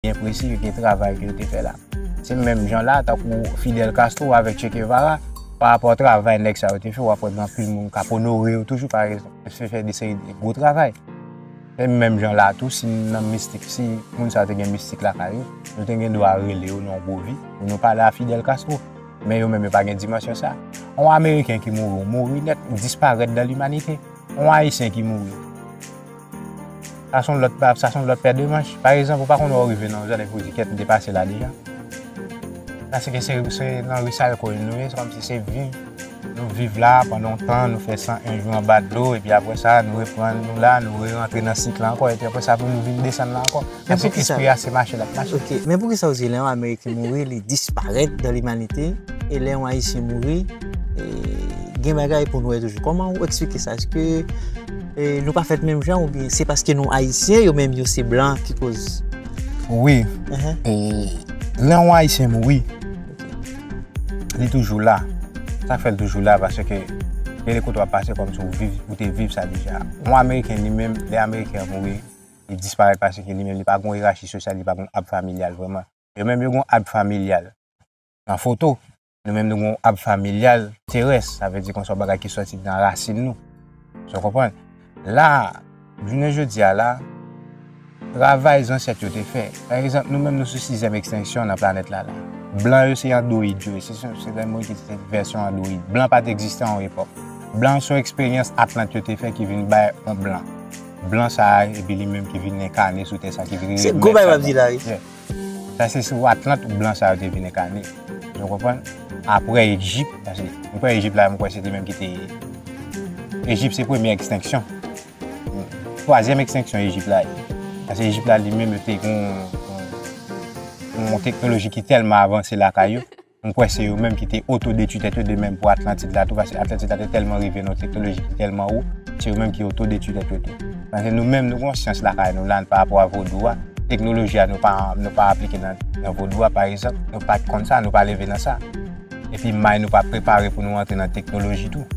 byen presi de travay ke yo te fè la. Se menm jan la, tankou Fidel Castro avèk Che Guevara, pa rapò travay nèg sa yo te fè, wap wè gen anpil moun kap onore yo toujou pa rezon yo te fè de seri de gwo travay. Se menm jan la tou, si nan mistik, si moun sa yo te gen mistik lakay yo, nou te gen dwa rele yo nan yon gwo vi, pou nou pale a Fidel Castro. Men yo menm yo pa gen dimansyon sa. Yon Ameriken ki mouri, ou mouri nèt, ou disparèt nan limanite. Yon Ayisyen ki mouri. Sa son lòt pa, sa son lòt pè de manch. Pa egzanp, ou pa konn wè ou rive nan yon zòn epi ou di kèt m depase la deja. Paske se se nan ri sa yo konnen nou ye, se kòm si se viv nou viv la pandan tan, nou fè 101 jou anba dlo epi aprè sa nou reprann nou la, nou re rantre nan sik la ankò epi aprè sa pou nou vin desann la ankò. Men pou kisa? Espri a se mache lap mache. Ok, men pou kisa ou di lè yon Ameriken mouri li disparèt dan limanite e lè yon Ayisyen mouri gen bagay pou nou wè toujou? Kòman ou eksplike sa? Eske nou pa fèt menm jan oubyen se paske nou Ayisyen yo menm yo se blan ki koz? Wi, lè yon Ayisyen mouri li toujou la. Sa k fè l toujou la paske lè li kote w ap pase kòmsi ou te viv sa deja. Yon Ameriken li menm lè Ameriken an mouri li disparèt paske li menm li pa gon yerachi sosyal, li pa gon ab familyal vrèman. Yo menm yo gon ab familyal nan foto, nou menm nou gon ab familyal terès, sa vle di kon se yon bagay ki sòti nan rasin nou. Sa w konprann? La, jounen jodi a la, travay zansèt yo te fè, pa egzanp nou menm nou sou sizyèm ekstenksyon nan planèt la la. Blan yo se andoyid yo ye, se se se lè moun ki se vèsyon andoyid. Blan pa te egziste a yon epòk. Blan se yon eksperyans atlant yo te fè ki vin bay yon blan. Blan sa a epi li menm ki vin enkane sou tè sa ki vin. Se gwo bagay wap di la wi. Sa se sou Atlant blan sa yo te vin enkane. Nou konprann? Aprè Ejip, paske m kwè Ejip la m kwè se li menm ki te Ejip se premye ekstenksyon. Twazyèm ekstenksyon Ejip la ye. Paske Ejip la li menm yo te gen yon teknoloji ki tèlman avanse lakay yo. M kwè se yo menm ki te oto-detwi tèt yo de menm pou Atlantid la tou, paske Atlantid la te tèlman rive nan yon teknoloji ki tèlman wo, se yo menm ki oto-detwi tèt yo tou. Paske nou menm nou gen yon syans lakay nou la, parapò a vodou a, teknoloji a nou pa, nou pa aplike nan, nan vodou a, paregzanp, nou pa t konn sa, nou pa leve nan sa. Epi may nou pa prepare pou nou antre nan teknoloji tou.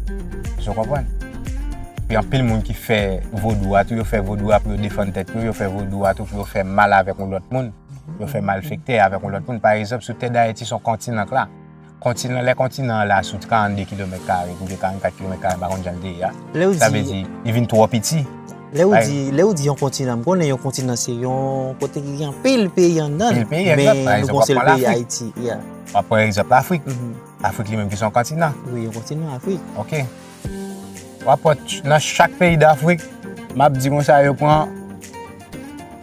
Èske w konprann? Epi anpil moun ki fè vodou a tou, yo fè vodou a pou yo defann tèt yo, yo fè vodou a tou pou yo fè mal avèk yon lòt moun. Yo fè malfektè avèk yon lòt moun. Pa egzanp, sou tè Dayiti, se yon kontinan k la. Kontinan, lè kontinan an la sou 32 kilomèt kare, oubyen 44 kilomèt kare, m pa konn jan l te ye a, sa vle di, li vin twò piti. Lè ou di, lè ou di yon kontinan, m konnen yon kontinan se yon kote ki gen anpil peyi anndan l. Anpil peyi, egzat. Pa egzanp, w ap pran Lafrik. W ap pran egzanp Lafrik. Lafrik li menm ki se yon kontinan. Wi, yon kontinan, Afrik. Ok. Wap wè nan chak peyi dafrik map di konsa yo pran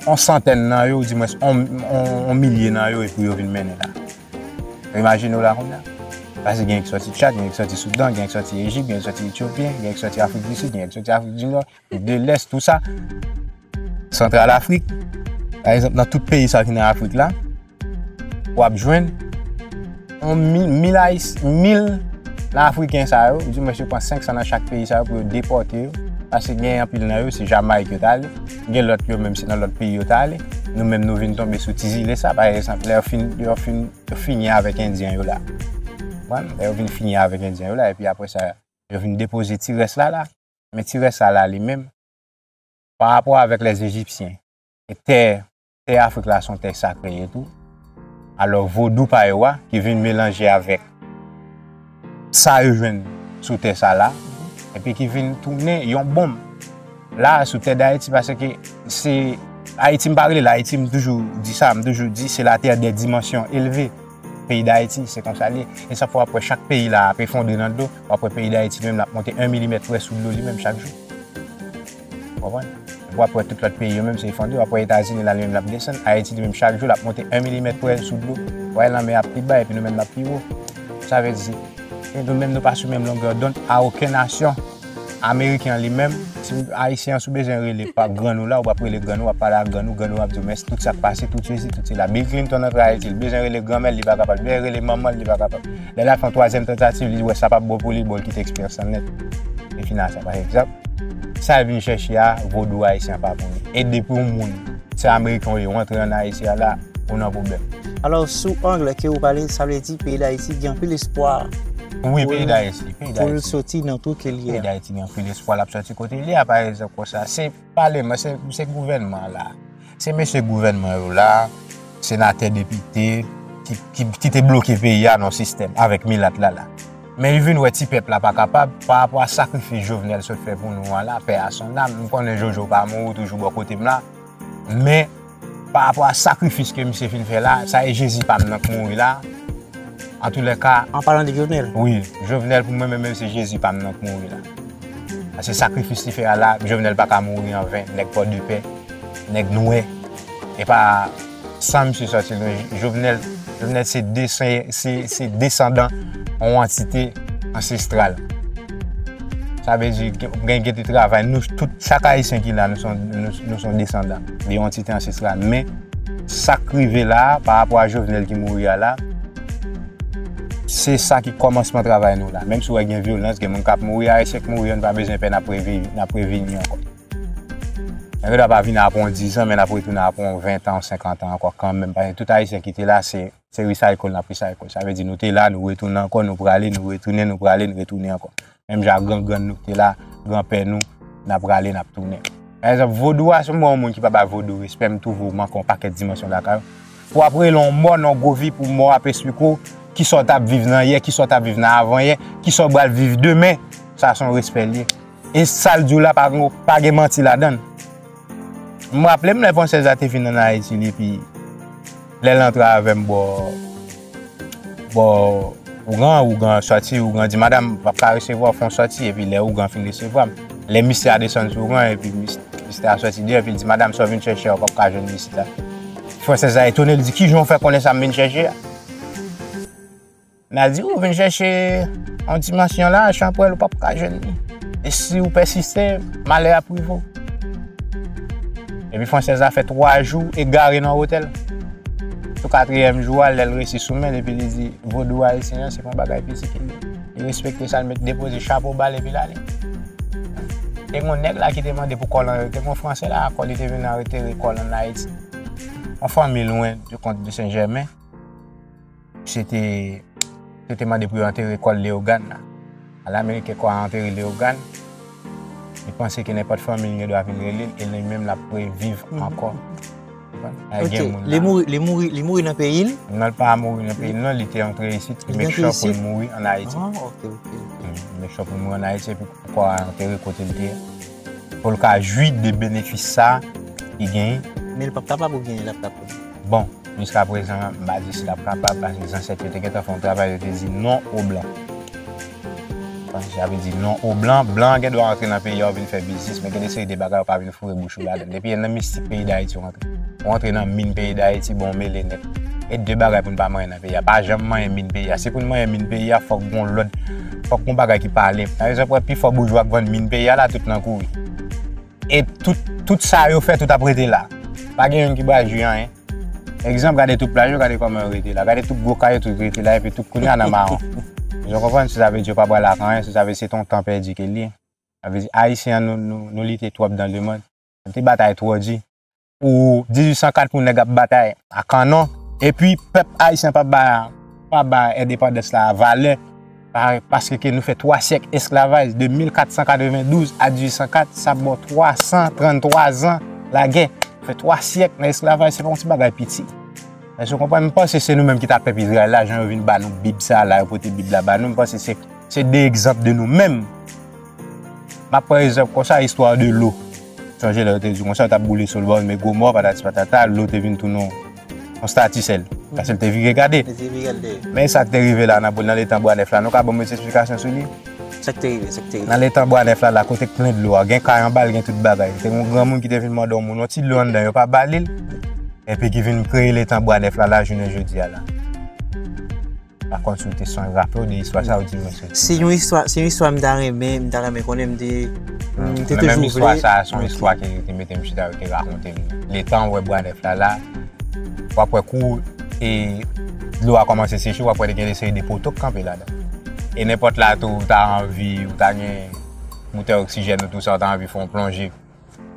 on santèn nan yo ou di mwens on milye nan yo epi yo vin mennen la. Imajine w la kounya. Pase gen yon ki soti Tchad, gen yon ki soti Soudan, gen yon ki soti Ejip, gen yon ki soti Etiopyen, gen yon ki soti Afrik di Sid, gen yon ki soti Afrik di Nò, de lès tout sa santral afrik pa egzanp nan tout peyi sa ki nan afrik la wap jwenn mil ayis mil nan afriken sa yo di mwen se pran 5 sa nan chak peyi sa yo pou yo depote yo ase gen yon pil nan yo se jamay ki yo tale gen lòt yo menm se nan lòt peyi yo tale nou menm nou vin tonbe sou ti zile sa pa egzanp lè yo fin yo fin yo fini avèk endyen yo la lè yo vin fini avèk endyen yo la epi apre sa yo vin depoze ti rès la la Men ti rès sa la li menm, parapò avèk lè Ejipsyen, e tè, tè Afrik la son tè sakre ye tou. Alò vodou pa yo a, ki vin melanje avèk sa yo jwenn sou tè sa la, epi ki vin tounen yon bonm la a sou tè Dayiti, paske se Ayiti m pa rele l Ayiti, m toujou di sa, m toujou di se la tè dè dimansyon elve. Peyi Dayiti, se konsa l ye. E sa fè w ap wè chak peyi la ap efondre nan dlo, w ap wè peyi Dayiti li menm l ap monte 1 milimèt près sou dlo li menm chak jou. Ou konprann? Epi w ap wè tout lòt peyi yo menm se efondre, w ap wè Etazini la li menm l ap desann, Ayiti li menm chak jou l ap monte 1 milimèt près sou dlo. Ou wè lanmè a ap pi ba epi nou menm n ap pi wo. Sa vle di, nou menm nou pa sou menm longè dond a oken nasyon. Ameriken an li menm, si Ayisyen an si w bezwen rele pa grann ou la, ou ap rele grann ou, w ap pale ak grann ou, grann ou ap di w mèsi, tout sa k pase, tout sesi, tout sela. Bill Clinton antre Ayiti, li bezwen rele granmè l, li pa kapab, li bezwen rele manman l, li pa kapab. Lè l ap fè yon twazyèm tantativ, li wè sa p ap bon pou li, bon l kite eksperyans lan nèt. Li fin a sa. Pa egzanp, sa l vin chèche a, vodou ayisyen an pa pou li. E depi yon moun, se Ameriken ou ye, ou antre ann Ayiti a la, ou nan pwoblèm. Alò, sou angle ke ou pale, sa vle di peyi Dayiti gen anpil espwa. Wi peyi dayiti. Pou l soti nan twou ke l ye a. Peyi dayiti gen anpil espwa l ap soti kote l ye a pa egzanp konsa. Se paleman, se gouvènman an la. Se mesye gouvènman yo la, senatè, depite ki te bloke peyi a nan sistèm avèk milat la la. Men yo vin wè ti pèp la pa kapab pa rapò a sakrifis Jovenel sot fè pou nou an la, pè a son nam. M konnen Jojo pa mouri toujou bò kote m la men. Pa rapò a sakrifis ke misye fin fè la, sa e Jezi pa m nan k mouri la, an tou lè ka. An palan de Jovenel? Wi, Jovenel pou mwen menm menm se Jezi pa m nan k mouri la. Paske sakrifis li fè a la, Jovenel pa ka mouri an ven, nèg pò de pè, nèg nwè. E pa san misye sòti lwen, Jovenel, Jovenel se desen, se, se desandan yon antite ansestral. Sa vle di, gen, gen te travay, nou tout, chak Ayisyen ki la, nou son, nou son desandan. Li yon ti tan sisla men sak rive la pa rapò a Jovenel ki mouri a la se sa ki kòmansman travay nou la. Menm si wè gen vyolans, gen moun kap mouri, ayisyen k mouri yo nou pa bezwen pè nap previni ankò. Nan gen dwa pa vini apre yon 10 an men nap retounen apre yon 20 tan, 50 tan ankò kanmenm paske tout ayisyen ki te la se. Se recycle n ap recycle. Sa vle di nou te la, nou retounen ankò, nou prale, nou retounen, nou prale, nou retounen ankò. Menm jan ak gran grann nou ki te la, gran pè nou, n ap prale, n ap tounen. Pa egzanp, vodou a, si m wè yon moun ki pa bay vodou respè, m twouve ou manke yon pakèt dimansyon lakay ou. Pou w ap rele yon mò nan yon gwo vi pou mò a ap esplike w ki sa w t ap viv nan yè, ki sa w t ap viv nan avan yè, ki sa w pral viv demen, sa se yon respè l ye. E sa l di w la pa gen manti ladan l. M raple m lè fransèz la te vin ann Ayiti epi lè l antre avè m bò bò ougan, ougan sòti, ougan di madam m pa ka resevwa w fè yon sòti epi lè ougan fin resevwa m lè misye a desann sou ougan epi misye a sòti deyò epi l di madam sa w vin chèche a ou pap ka jwenn li isit la fransèz la etone l di kijan w fè konnen sa m vin chèche a. Nazi ou vin chèche yon dimansyon la, chanpwèl ou pap ka jwenn li. E si ou pèsiste, malè ap rive ou. Epi fransèz la fè 3 jou egare nan otèl. Sou katriyèm jou a, lè l resi sou men l epi li di vodou ayisyen an se pa bagay piti ke li. Li respekte sa, li mèt depoze chapo ba l epi l ale. Te gen yon nèg la ki te mande pou kò l anrete, te gen yon fransè la akò li te vin anretere kò l ann Ayiti. Yon fanmi lwen de kont de Sen Jèmen. Se te, yo te mande pou yo antere kò l Leyogàn la. Ala Ameriken kò a antere Leyogàn, li panse ke nenpòt fanmi l gen dwa vin rele l e li menm l ap reviv ankò. Ok, li mouri, li mouri, li mouri nan peyi l? Non, li pa mouri nan peyi l non, li te antre isit, li te antre isit, li te make sure pou l mouri an Ayiti. Ah, ok, ok. Li make sure pou l mouri an Ayiti epi kò a antere kote l te ye. pou l ka jwi de benefis sa ki genyen. Men l pap kapab oubyen l ap kapab? Bon, jiska prezan an, m pa di si l ap kapab paske zansèt yo te gentan fè yon travay yo te di non o blan. Bon, sa vle di non o blan. Blan an gen dwa antre nan peyi a ou vin fè biznis men gen de seri de bagay ou pa vin foure bouch ou ladan l. Depi e nan mistik peyi Dayiti ou rantre. Ou antre nan min peyi Dayiti, bon ou mele nèt. E de bagay pou n pa manyen nan peyi a. Pa janm manyen min peyi a. Si pou n manyen min peyi a, fòk gon lòd. Fòk yon bagay ki pale. Par exemple, wè pi fò boujwa k vann min peyi a la tout nan kouri. E tout, tout sa yo fè tout ap rete la. Pa gen youn ki bal jwi anyen. Egzanp, gade tout plaj yo, gade kòman yo rete la. Gade tout gwo kay yo, tout rete la epi tout kounye a nan mawon. Èske w konprann? Sa vle di yo pa pral ak anyen, sa vle di se t on tan pèdi ke l ye. Sa vle di Ayisyen an nou, nou, nou lite twòp dan lemond. Nou te batay twò di. pou 1804 pou nèg ap batay a kanon epi pèp ayisyen pa ba pa ba endepandans la valè paske ke nou fè 3 syèk esklavaj de 1492 a 1804 sa bon 333 zan lagè fè 3 syèk nan esklavaj se pa yon ti bagay piti èske ou konprann m panse se nou menm ki ta pèp izrayèl la jan yo vin ba nou bib sa la yo pote bib la ba nou m panse se se de egzanp de nou menm m ap pran egzanp konsa istwa de lou. Sonje lè yo te di konsa, yo t ap boule Sodòm e Gomò, patati patata, lou te vin tounen yon estati sèl, paske l te vire gade. Men e sa k te rive la nan letan Bwa Nèf la, nou ka ban mwen ti esplikasyon sou li? Sa k te rive? Sa k te rive? Nan letan Bwa Nèf la, la kote k plen dlo a, gen kay anba l, gen tout bagay. Te gen yon granmoun ki te vin mande yon moun yon ti dlo anndan, yo pa ba li l, epi ki vin kreye letan Bwa Nèf la, la jounen jodi a la. Pa konn si w te sonje raple w de istwa sa ou di mwen soti. Se yon istwa, se yon istwa m ta renmen, m ta renmen konnen m te, m te toujou vle. Menm istwa sa a, se yon istwa ki te mete m chita, yo te rakonte m. Le tan ou wè bwa nèf la la, w ap wè kou e dlo a kòmanse seche, w ap wè te gen yon seri de poto k kanpe ladan. E nenpòt la tou, ou ta anvi, ou ta gen boutèy oksijèn ou tou sa, ou ta anvi fè yon plonje.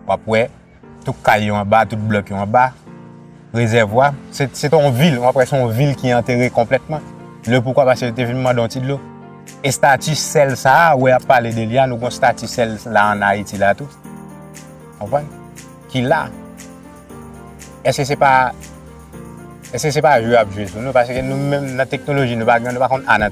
wap wè tout kay yo anba, tout blòk yo anba, rezèvwa, se te yon vil, wap wè se yon vil ki antere konplètman, le poukwa paske yo te vin mande yon ti dlo. Estati sèl sa a wè yap pale de li a, nou gon estati sèl la an Ayiti la tou, konprann, ki la. Eske se pa, eske se pa jwe yap jwe sou nou, paske nou menm nan teknoloji nou pa gen, nou pa konn a nan.